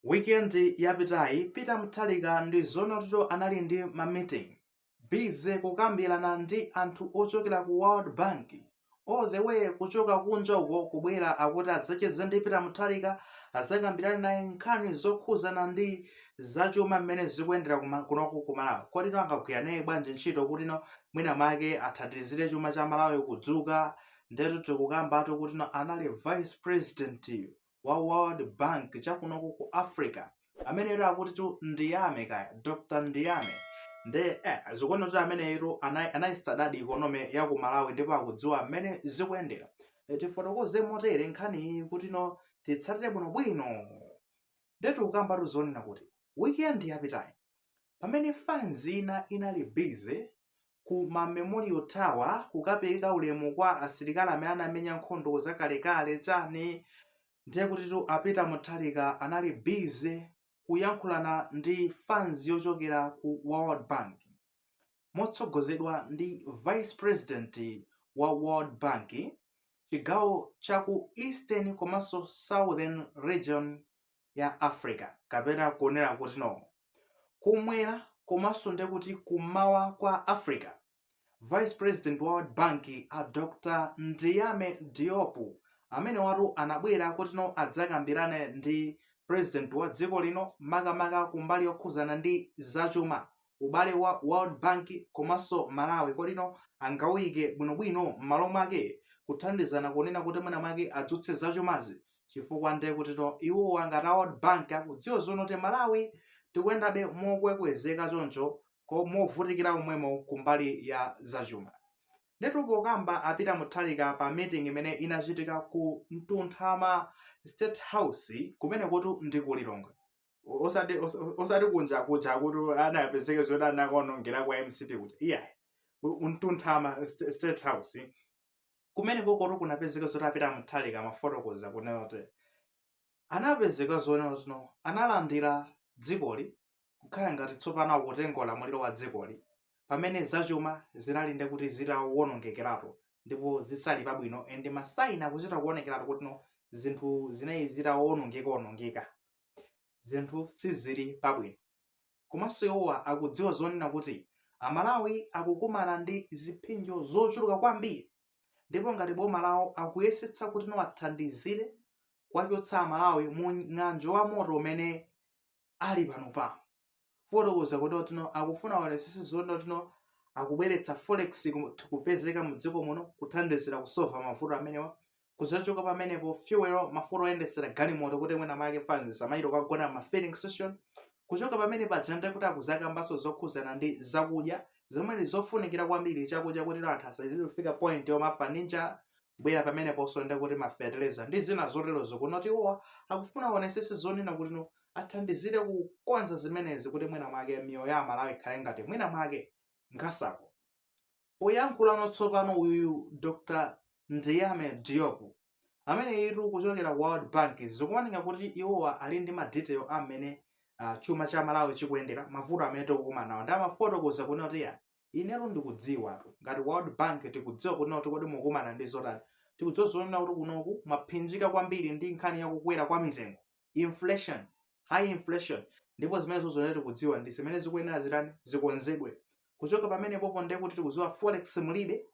Weekend yapitayi Peter Mutharika ndi zoona kutito anali ndi ma meeting busy kukambirana ndi anthu ochokera ku World Bank all the way kuchoka kunja uko kubwera akuti adzacheze ndi Peter Mutharika adzakambirane naye nkhani zokhuzana ndi zachuma mmene zikuyendera kuma- kunoko ku Malawi kodino angagwire naye bwanji ntchito kutino mwina mwake athandizire chuma cha Malawi kudzuka ndetu tikukambatu kutino anali vice president wa world bank chakunoko ku africa ameneyo akutitu ndiyame kaya dr ndiyame nde eh, zikuoneka kuti ameneyutu anayisitade ikonome ya ku malawi ndipo akudziwa mmene zikuyendera eh, tifotokoze motere nkhaniyi kuti no titsatire bwinobwino ndetu tikukambatu zonena kuti weekend yapitayi pamene fanzi ina inali busy ku ma memorial tower kukapereka ulemu kwa asilikali amene anamenya nkhondo zakalekale chani ndiye kutitu a Peter Mutharika anali busy kuyankhulana ndi fans yochokera ku world bank motsogozedwa ndi vice president wa world bank chigawo cha ku eastern komanso southern region ya Africa kapena kunena kutino kumwera komanso nde kuti kummawa kwa Africa Vice President wa World Bank a Dr. Ndiyame Diop amenewatu anabwera kutino adzakambirane ndi President wa dziko lino makamaka kumbali yokhuzana ndi zachuma ubale wa World Bank komanso Malawi kodino angawuyike bwinobwino m'malo mwake kuthandizana kunena kuti mwina mwake adzutse zachumazi chifukwa nde kutino iwowa ngati a World Bank akudziwa zoona kuti Malawi tikuyendabe mokwekwezeka choncho ko movutikira komwemo kumbali ya zachuma. Ndetu pokamba a Peter Mutharika pa meeting imene inachitika ku Mtunthama State House kumenekotu ndi ku Lilongwe, osati osa- osati kunja kuja kuti anapezeke zoti anakaonongera kwa mcp kuti iya ku mtunthama st- state house kumenekotu kunapezeka zoti a Peter Mutharika amafotokoza kunena kuti anapezeka zonena kutino analandira dzikoli kukhala ngati tsopano akutenga ulamuliro wa dzikoli pamene zachuma zinali nde kuti zitawonongekeratu ndipo zisali pabwino and masayini akuchita kuonekeratu kuti no zinthu zinali zitawonongekaonongeka zinthu sizili pabwino. Komanso iwowa akudziwa zonena kuti Amalawi akukumana ndi ziphinjo zochuluka kwambiri ndipo ngati boma lawo akuyesetsa kuti no awathandizire kuwachotsa Amalawi mu ng'anjo wa moto umene ali panopano. fotokoza kuti no akufuna aonesese zonena kuti no akubweretsa forex ku- kupezeka mu dziko muno kuthandizira kusolva mavuto amenewa kuzachoka pamenepo fuel mafuta oyendesera galimoto kuti mwina mwake fans isamayiro kagona ma filling station kuchoka pamenepaja nde kuti akuzakambanso zokhuzana ndi zakudya zomwe ndi zofunikira kwambiri chakudya kuti anthu asazifika point yomaafa ndi njala bwera pameneposo ndekuti mafeteleza ndi zina zoterozo kuti no iwowa akufuna aonesese zonena kuti no athandizire kukonza zimenezi kuti mwina mwake miyoyo ya amalawi ikhale ngati mwina mwake nkhasako poyankhulano tsopano uyuyu dr ndiyame diopu amene ali kuchokera ku world bank zikuoneka kuti iwowa ali ndi madetail amene uh, chuma cha malawi chikuyendera mavuto amene tikukumana nawo nde amafotokoza kunena kuti ya Inetu ndikudziwatu ngati World Bank tikudziwa kunena kuti kodi mukumana ndi zotani. Tikudziwa zonena kuti kunoku mwaphinjika kwambiri ndi nkhani ya kukwera kwa mitengo, inflation, high inflation, ndipo zimenezozo ndiye tikudziwa ndi zimene zikuyenera zitani, zikonzedwe. Kuchoka pamenepopo ndiye kuti tikudziwa forex mulibe,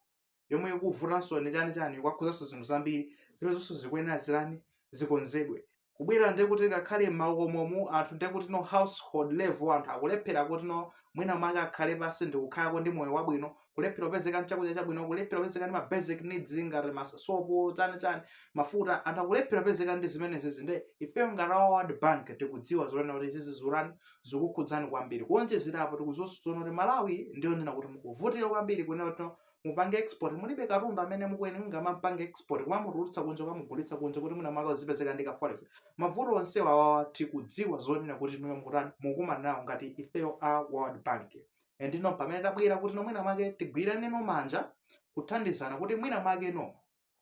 yomwe ikuvutanso ndi chani chani kwakhuzanso zinthu zambiri zimenezonso zikuyenera zitani zikonzedwe kubwera ndiye kuti ngakhale m'makomomu anthu ndiye kuti no household level anthu akulephera kuti no mwina mwake akhale pansi ndikukhalako ndi moyo wabwino kulephera kupezeka nchakudya chabwino kulephera kupezeka ndi ma basic needs ngati masopo chani chani mafuta anthu akulephera kupezeka ndi zimenezi nde ifeyo ngati a world bank tikudziwa zonena kuti izizi zikutani zikukhudzani kwambiri kuonjezerapo tikuziwanso zonena kuti malawi ndiyo ndina kuti mukuvutika kwambiri kunena kuti no mupange export mulibe katundu amene mukuyenera muzimupanga export kumamutulutsa kunja kumamugulitsa kunja kuti mwina mwake muzipezeka ndi ka forex mavuto onsewa awawa tikudziwa zonena kuti inuyo mukutani mukumana nawo ngati ifeyo a world bank ndi no pamene tabwera kuti no mwina mwake tigwiraneno manja kuthandizana kuti mwina mwake no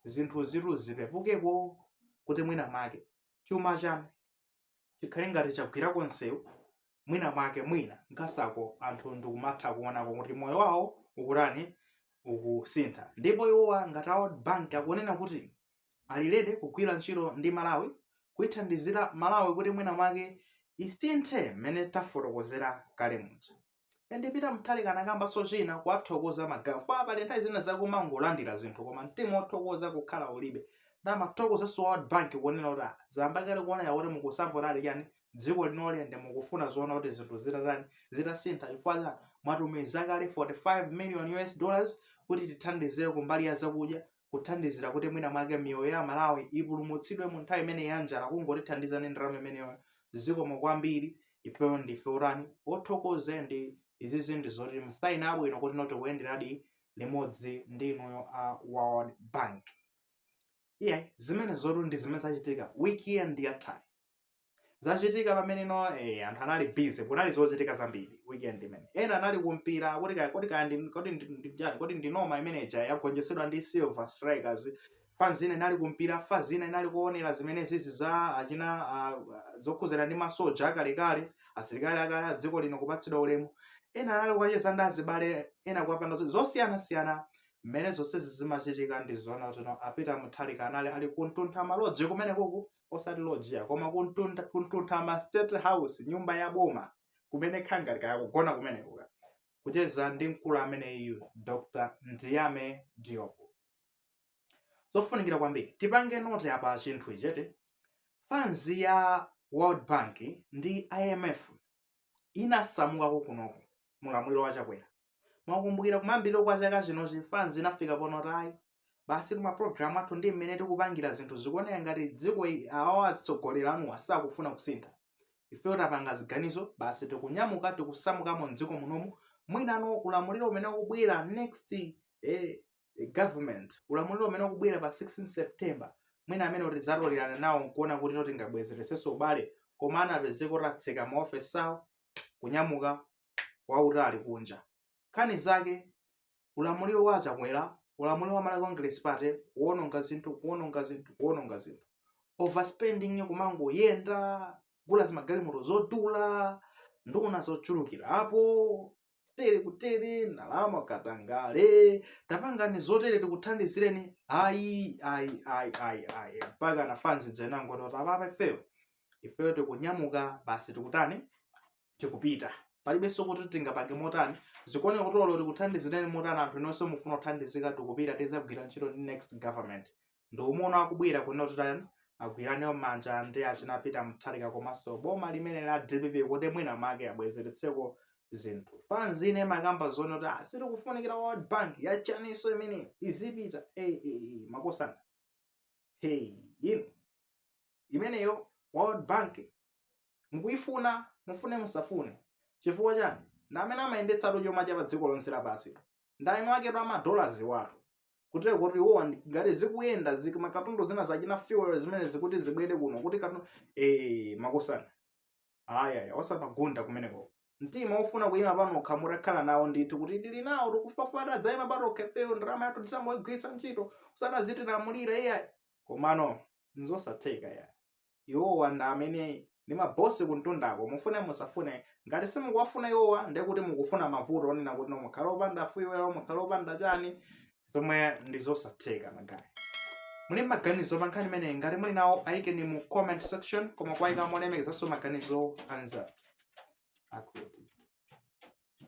zinthu izi zipepukeko kuti mwina mwake chuma chanu chikhale ngati chagwirako nsewu mwina mwake mwina nkhasako anthu ndikumatha kuonako kuti moyo wawo ukutani ukusintha ndipo iwowa ngati a World bank akunena kuti ali ready kugwira ntchito ndi malawi kuithandizira malawi kuti mwina mwake isinthe mmene tafotokozera kale muja ende Peter Mutharika anakambaso china kuwathokoza magaye ofa abale nthawi zina zakumangolandira zinthu koma mtima wothokoza kukhala ulibe nde amathokozaso world bank kunena kuti ah, zayamba kale kuoneka kuti mukusapotadi chani dziko linoli ende mukufuna zonena kuti zinthu zitatani zitasintha chifukwa cha mwatumiza kale 45 million us dollars kuti tithandizire kumbali ya zakudya kuthandizira kuti mwina mwake miyoyo ya aMalawi ipulumutsidwe mu nthawi imeneyi ya njala kungotithandiza ndi ndalama imeneyo zikomo kwambiri ifeyo ndife otani othokoze nde izizi ndi zoti masaini abwino kuti no tikuyenderadi limodzi ndi inuyo a world bank iya zimenezotu ndi zimene zachitika weekend yathayi zachitika pamenenopo eh, anthu anali busy kunali zochitika zambiri weekend imene ena anali kumpira kodi kaya kodi kaya ndi- kodi ndi- ndi- chani, kodi ndi noma imene ija yagonjetsedwa ndi silver strikers fans ina inali kumpira fans ina inali kuonera zimene zizi za achina ah, zokhudzana ndi masoja akalekale asilikali akale a dziko lino kupatsidwa ulemu ena anali kukacheza ndi azibale ena kukapanga zo- zosiyanasiyana mmene zonsezi zimachitika ndi zoona tsono a Peter Mutharika anali ali kuntuntha maloji kumeneku osati loji ya koma kuntuntha kuntuntha ma state house nyumba ya boma kumene kukhala ngati kaya kugona kumeneko kukacheza ndi mkulu ameneyu Dr. Ndiame Diop zofunikira kwambiri tipange note apa chinthu ichi eti fans ya World Bank ndi IMF inasamukako kunoko mulamuliro wa chakwera mwakumbukira kumayambiriro kwa chaka chinochi fans inafika ponota ayi basi tuma program athu ndi mmene tikupangira zinthu zikuoneka ngati dziko i- awawa atsogoleri anuwa sakufuna kusintha ifeyo tapanga ziganizo basi tikunyamuka tikusamukamo mdziko munomu mwina mu ulamuliro umene ukubwera next eh, eh, government ulamuliro umene ukubwera pa 16 september mwina ameneyo tizatolerana nawo nkuona kuti no tingabwezeretsenso ubale koma anapezeka kuti atseka maofesi awo kunyamuka wautali kunja nkhani zake ulamuliro wa chakwera ulamuliro wa malawi congress party kuononga zinthu kuononga zinthu kuononga zinthu overspending kumangoyenda kugula zimagalimoto zodula nduna zochulukira apo tere kutaya ndalama katangale tapangani zotere tikuthandizireni ayi ayi ayi ayi ayi mpaka ana fans inangoti apapa ifeyo ifeyo tikunyamuka basi tikutani tikupita palibenso kuti tingapange motani zikuoneka kuti olo tikuthandizireni motani anthu inu simufuna kuthandizika tikupita tizagwira ntchito ndi next government ndiye mukuona akubwera kunena kutitani agwirane manja ndi achina peter mutharika komanso boma limene la dpp kuti mwina make abwezeretseko zinthu fans ina imakamba zonena kuti ah, sitikufunikira world bank yachaniso imeneyo izipita hey, hey, hey, makosana hey, inu imeneyo world bank Mukuyifuna, mufune musafune. Chifukwa chani? Ndi amene amayendetsatu chuma cha pa dziko lonse lapansi. Ndi eni aketu ama dollars awatu. Kutero kuti iwowa ndi- ngati sizikuyenda makatundu zina zachina fuel zimene zikuti zibwere kuno kuti katundu eh makosana. Ayaya osamagunda kumeneko. Mtima ofuna kuyima panokha mutha kukhala nawo ndithu kuti tili nawo tikufuna titadzayima patokha ifeyo ndalama yathu tizangoyigwiritsa ntchito osati azitilamulira iyayi. Komano nzosatheka ya. iwowa ndi amene ndi mabosi kumtundako mufune musafune ngati simukuwafuna iwowa ndiye kuti mukufuna mavuto onena kuti no mukhala opanda fuel mukhala opanda chani zomwe ndi zosatheka magayi muli ndi maganizo pa nkhani imeneyi ngati muli nawo ayikeni mu comment section koma kuwayika molemekezanso maganizo anzanu akuti